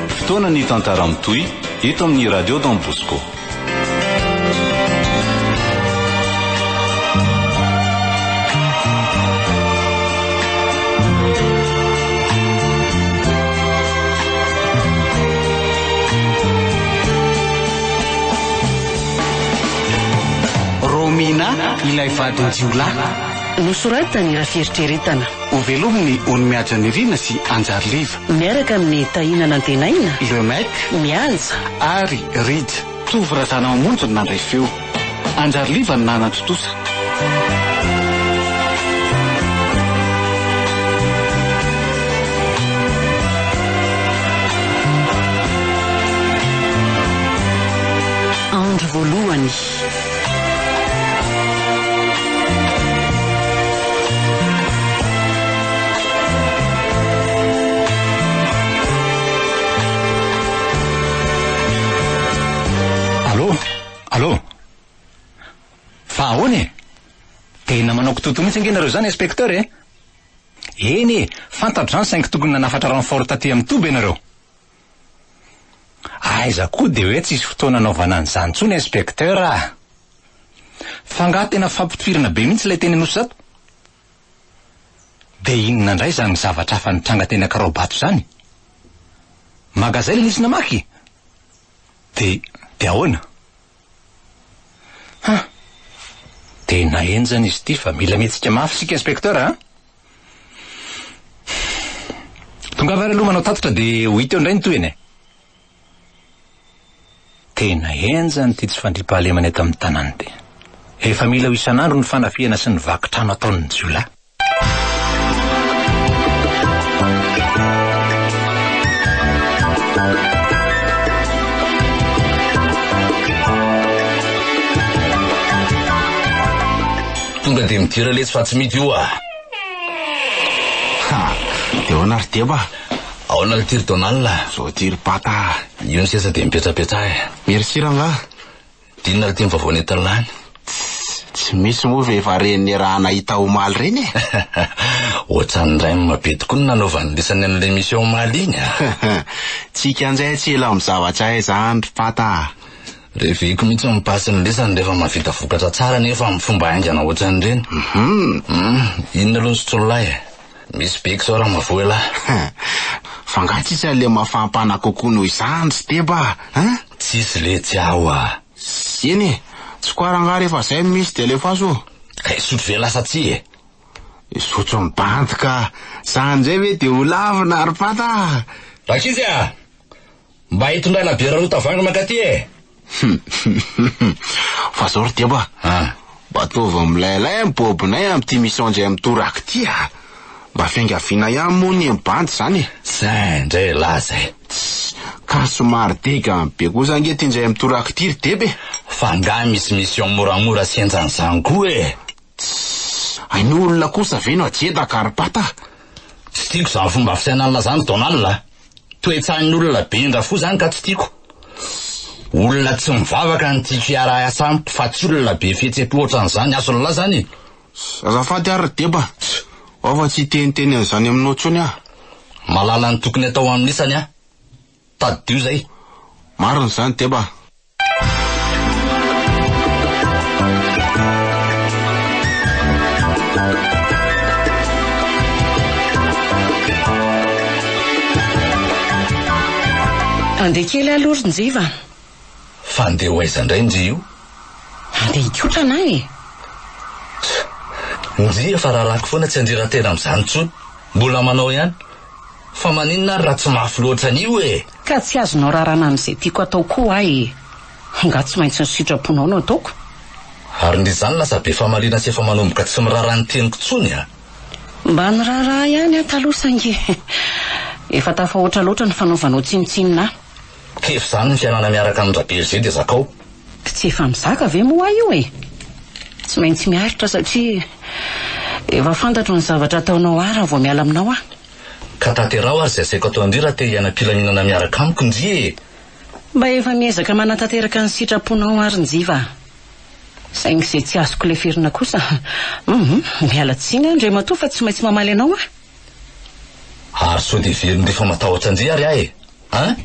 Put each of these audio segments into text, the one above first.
Fotoana ny tantara mitohy eto amin'ny Radio Don Bosco. Romina ilay vadin-jiolahy. Nosoratany raha fieritreretana. Hovelomin'ny Ony Mihaja Nirina sy Anjary Liva. Miaraka amin'i Tahina Nantenaina, Le Mec, Mihaja, ary Read. Tovo Razanamamonjy no nandray feo. Anjary Liva no nanatontosa. Andro voalohany. Totoa mihitsy ange nareo izany inspecteur e. Eny e, fantatra izany saingy tokony nanafatra renfort taty amin'ny toby ianareo. Aiza koa dia hoe tsisy fotoana anaovana an'izany intsony inspecteur ah! Fa angaha tena fampitifirana be mihitsy ilay teny Anosizato? Dia inona indray izany zavatra hafa nitranga teny Ankaraobato izany? Magazay ilay nisy namaky? Dia, dia ahoana? Ha! Tena henjana izy ity fa mila mihetsika mafy isika inspecteur a! Tongava ary aloha manao tatitra dia ho hita eo indray ny tohiny e! Tena henjana ity tsy fandriampahalemana eto amin'ny tanàna ity. Efa mila ho isan'andro ny fanafihana sy ny vaky trano ataon'ny jiolahy. Tonga dia midira letsy fa tsy mity io ah. Ha, dia ahoana ry Deba? Ahoana le tiry Donald? Zao tiry Pata. Io ny seza dia mipetrapetraha eh. Merci rangaha. Dinina ity ny vaovao nentin'ny lany. Tsy misy moa ve va reny niaraha nahita omaly reny e? Otsan'ny rem be tokoa no nanaovan'ny lisany an'ilay émission omaly iny a! Tsy kianjay tsy ela amin'ny zavatra hay zany ry Pata a! Reveko mihitsy ny passe ny lisany rehefa mahavita vokatra tsara nefa amin'ny fomba haingana otsan'ireny. Hum! Inona aloha ny sotrololahy e? Misy biko zao Ramavoa elah. Fa nga tsisy anle mafampana kokoa noho izany ry Deba a? Tsisy letsy aho a! Eny e! Tsy ko ary nga rehefa zay no misy de alefaso ô! Ka hisotro ve lasa tsy e? Hisotro ny bandy ka! Sa anizay ve de ho lavo na ry Pata a! Rankizy a! Mba hitondrana bière roa tavoahangy mankaty e! Humm fa zao ry deba a! Ah! Mba ataovy milailay ny bobonay amin'ity misaonjy ay mitoraka ity a! Mba fiangaviana ihany moa anie ny bandy izany e! Zay ndray elah zay! Tss! Ka somary degany be kosa ange ity njay mitoraka ity ry deba e! Fa angaha misy mission moramora sy henjan'izany koa e! Tss! Hainao olona kosa ve no ajedaka ary pata? Tsy tiako izany fomba fisainanla izany Donald a! Toe-tsain'olona be indra fo izany ka tsy tiako! Tss! Olona tsy mivavaka no tiako hiara-hiasa amiko fa tsy olona be fihetsem-po ohatran'izany, azonla izany e! Tss! Azafady ary ry Deba! Tss! Ao fa tsy hiteniteny an'izany aminao intsony aho! Mahalala ny tokony atao amin'isany aho! Tadidio zay. Marina zany Deba a. Andeha kely aloha ry njiva a. Fa andeha ho aiza indray njy io? Andeha hikotrana aho e! Tch! Njy efa rarako foana tsy andrera-tena amin'izany intsony. Mbola manao ihany. Fa maninona ary raha tsy mafy loatra an'io e! Ka tsy azonao rarana amin'izay tiako atao koa aho e! Angaha tsy maintsy ny sitraponao no ataoko? Ary ndry izany lasa be famaliana sy efa manomboka tsy miraharaha ny teniko intsony a! Mba niraharaha ihany aho taloha saingy efa tafahoatra loatra ny fanaovanao tsinontsinona ahy. Kivy izany ny fiainana miaraka amin-dRaberizay dia zakao. Tsy efa mizaka ve moa io e? Tsy maintsy miaritra satria efa fantatro ny zavatra ataonao ahy raha vao miala aminao aho. Ka tanteraho ary izay asaiko atao indrindra raha te hiaina am-pilaminana miaraka amiko, Nji e! Mba efa miezaka manatanteraka ny sitraponao ary Njiva a! Saingy izay tsy azoko leferina kosa, hum, miala tsiny an-dRamatoa fa tsy maintsy mamaly anao aho. Ary sao dia very ndry fa matahotra ndry ary aho e! An!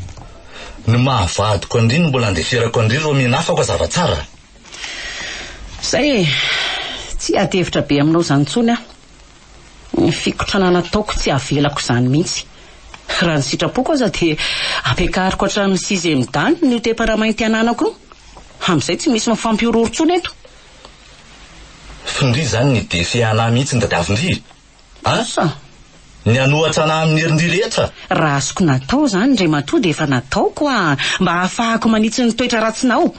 Ny maha vadiko an-dry no mbola andeferako an-dry ireo mianafako a zava tsara! Zay e! Tsy hiady hevitra be aminao izany intsony aho. Ny fikotrana nataoko tsy havelako izany mihitsy. Raha ny sitrapoko aza dia ampiakariko hatramin'ny sixième dan ny io tepara mainty ananako io. Amin'izay tsy misy mifampihorohoro intsony eto. F'ndry izany ny defi anah mihitsy ny tadiavin-dry? Asa ny hanohatra anah amin'ny herin'ny rehetra. Raha azoko natao izany, Ndray matoa, dia efa nataoko hoa, mba hahafahako manitsy ny toetra ratsinao.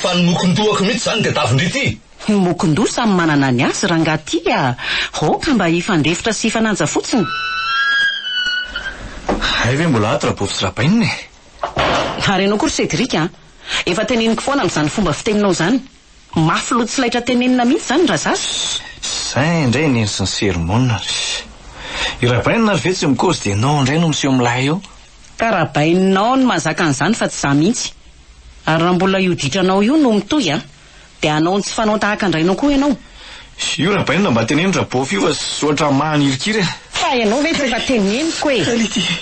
Fa ny mokon-dohako mihitsy izany dia davin-dry ity. Ny mokon-doha samy manana ny azy, rangaha ty a! Aoka mba hifandefitra sy hifanaja fotsiny. Hay ve mbola ato Rabovy sy Rabainina e! Ary ianao koa ry Cédric a! Efa teneniko foana amin'izany fomba fiteninao izany. Mafy loha tsy laitra tenenina mihitsy zany Razafy. Zay indray neny sy ny sermona ry. I rabainina ary ve tsy mikozy dia nao indray no miseho milay eo. Ka rabaininao no mahazaka an'izany fa tsy za mihitsy. Ary raha mbola io ditranao io no mitohy an! Dia hanao ny tsy fanao tahaka an-drainao koa ianao. Io rabainina mba teneno rabof io fa ohatran'ny mahanirikiry an! Fa ianao ve tsy efa teneniko e!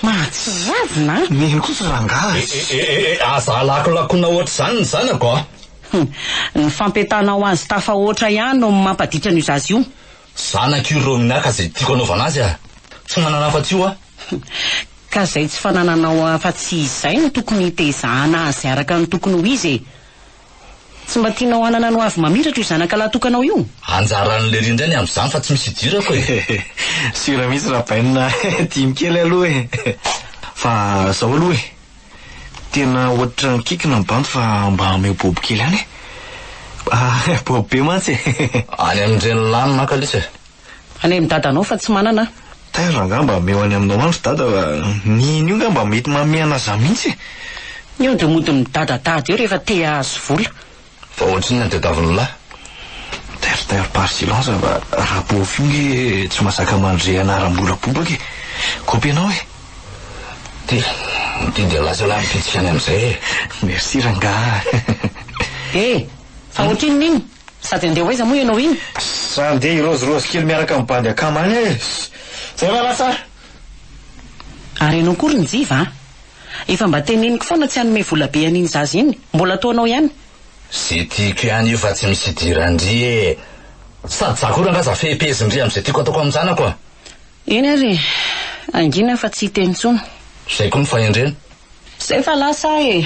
Mahatsiravina an! Neny kosa rangaha a! Aza alakolakona ohatr'izany ny zanako a! Hum. Ny fampientanao azy tafahoatra ihany no mampaditra an'io zaza io. Zanako io Romina ka izay tiako anaovana azy aho. Tsy manana afa-tsy io aho. Ka izay tsy fanananao afa-tsy izay no tokony hitezahana azy araka ny tokony ho izy e. Tsy mba tianao hanana ny hoavy mamiratra io zanaka lahy tokanao io? Anjaran'i Lery indray ny amin'izany fa tsy misy idirako e. Sura mihitsy Rabaina tiany kely aloha e. Fa zao aloha e. Tena ohatry ny kikina ny bandy fa mba ameo bobo kely any e. Bobo be mantsy e. Any amin'ireny lanona an kalisa e. Any amin'ny dadanao fa tsy manana aho. Taiza angaha mba ameo any aminao any ry dada fa ny iny io nga mba mety mameana zah mihitsy e. Ny ody mody midadadada eo rehefa te ahazo vola. Fa ohatrinona tadiavin'ny lahy? Terre-terre par silence fa raha beauf io nge tsy mazaka mandre anaram-bola bobaka e! Kopy anao e! Ty, ty dia lasa lahy mipitsika any amin'izay e! Merci rangaha. E! Fa ohatrinona iny? Sady handeha ho aiza moa ianao iny? Sa handeha hirôzirôzy kely miaraka amin'ny bandy akama any e! Zay va lasa a! Ary ianao koa ry Njiva a! Efa mba teneniko foana tsy hanome vola be an'iny zaza iny. Mbola ataonao ihany. Ze tiako ihany io fa tsy misy idiran-dry e! Sady za koa rangahy za fehim-pehezin-dry amin'izay tiako ataoko amin'ny zanako a! Eny ary e! Hangina fa tsy hiteny intsony. Zay koa ny fahendrena. Zay fa lasa aho e!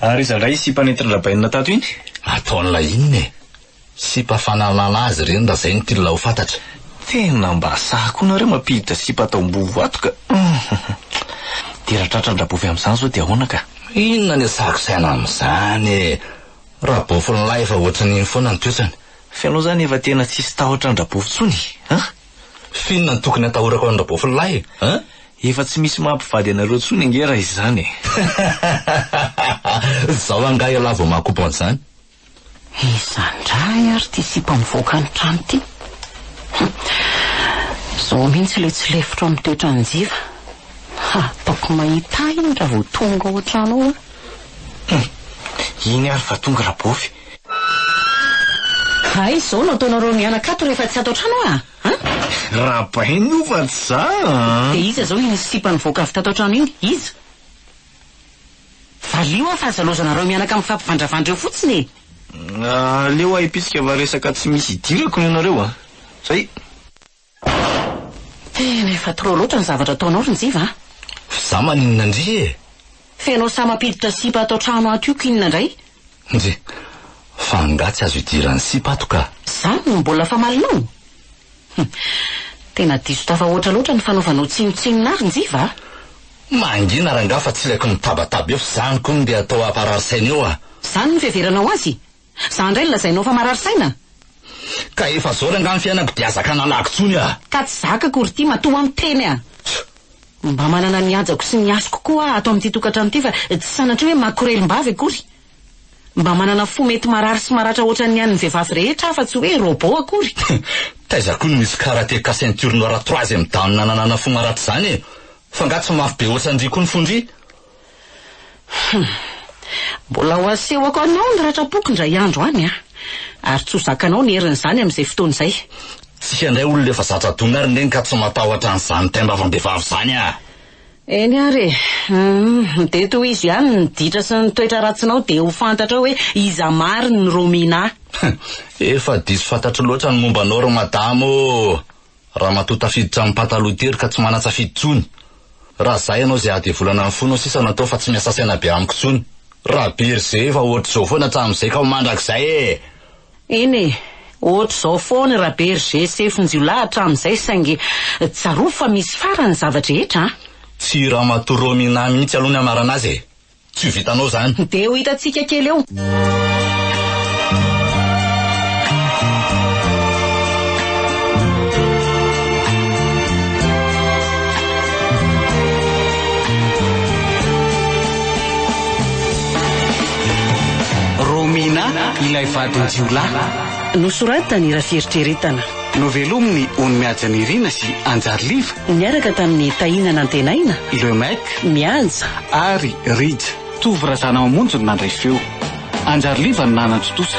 Ary iza indray iny sipa nentin-dRabainina tato iny? Ataon'ilay inona e? Sipa fanalana azy ireny raha izay no tian'ilay ho fantatra. Tena mba sahy koa nareo mampiditra sipa atao mboho ato ka! Dia raha tratran-dRabofy amin'izany izao dia ahoana ka? Inona ny asako saina amin'izany e! Rabofy lahy efa ohatran'iny foana ny toetrany. Fa ianao izany efa tena tsisy tahotra an-dRabofy intsony an! F'inona no tokony atahorako an'i Rabofy lahy e? An? Efa tsy misy maha mpivady anareo intsony ange raha izany e! Zao angaha ialahy vao maha-couple an'izany? Iza indray ary ity sipa mivoaka ny trano ity? Hum. Zao mihitsy ilay tsy lefitro amin'ny toetran'i Njiva. Hataoko mahita ahy iny raha vao tonga ao an-trano ao an! Hum. Iny ary fa tonga Rabofy. Hay izao no ataonareo mianaka ato rehefa tsy ato an-trano aho a! An? Rabainy io fa tsy za an! Dia iza izao iny sipa nivoaka avy tato an-trano iny? Iza? Valio aho fa aza laozanareo mianaka mifampivandravandra eo fotsiny e! Aleo ahipitsika fa resaka tsy misy idirako no ianareo a! Zay! Tena efa trop loatra ny zavatra ataonao ry Njiva a! F'za maninona ndry e! F'enao sa mampiditra sipa ato trano ato io k'inona ndray? Ndry! Fa angaha tsy azo idiran'ny sipa ato ka! Zany no mbola famalinao? Hum! Tena diso tafahoatra loatra ny fanaovanao tsinontsinona ahy ry Njiva a! Mangina rangaha fa tsy ilaiko mitabataba eo f'zany kony ndeha atao haparary saina eo a! Zany no fiheveranao azy? Za ndray no lazainao fa marary saina? Ka efa zao rangaha ny fiainako dia aza ka nalaky tsony ah! Ka tsy zaka akory ity matoa miteny ah! Mba manana ny hajako sy ny hasiko koa ah ato amin'ity tokantrano ity fa tsy sanatria hoe makorelim-bavy akory! Mba manana fo mety marary sy maratra ohatran'ny an'ny vehivavy rehetra ah fa tsy hoe robot akory! Taiza koa no misy karateka ceinture noire troisième dan nananana fo maratra izany e! Fa nga tsy mafy be ohatran'ndry koa ny fon-dry? Hum. Mbola ho asehoko anao ny ratra-poko indray andro any an! Ary tsy ho zakanao ny herin'izany amin'izay fotoana izay. Tsika indray olona efa zatra dona ary neny ka tsy matahotra an'izany taim-bavam-behivavy izany an! Eny ary e! Hum. Dia tohizo ihany ny ditra sy ny toetra ratsinao dia ho fantatrao hoe iza marina i Romina a! Hum. Efa diso fantatro loatra ny momba anao ry madama ô! Ramatoa tafiditra am pataloha tery ka tsy manatsafidy tsony. Raha zay anao zay adevolana ny fonao sisa no atao fa tsy miasa saina be amiko tsony. Raha be ry zey efa ohatry zao foana hatramin zay ka ho mandrakizay ee. Eny e, ohatry zao foana raha be ry zey sefo njiolahy hatramin zay saingy tsarovy fa misy farany ny zava drehetra a. Tsy i ramatoa Romina mihitsy aloha ny anarana azy e. Tsy ho vitanao zany. Dia ho hitantsika kely eo. Romina, ilay vadin-jiolahy. Nosoratany raha fieritreretana. Novelomin'i Ony Mihaja Nirina sy Anjary Liva. Niaraka tamin'i Tahina Nantenaina. Le Mec, Mianja, Ary, Read, Tovo Razana Mamonjy no nandray feo. Anjary Liva no nanan-tontosa.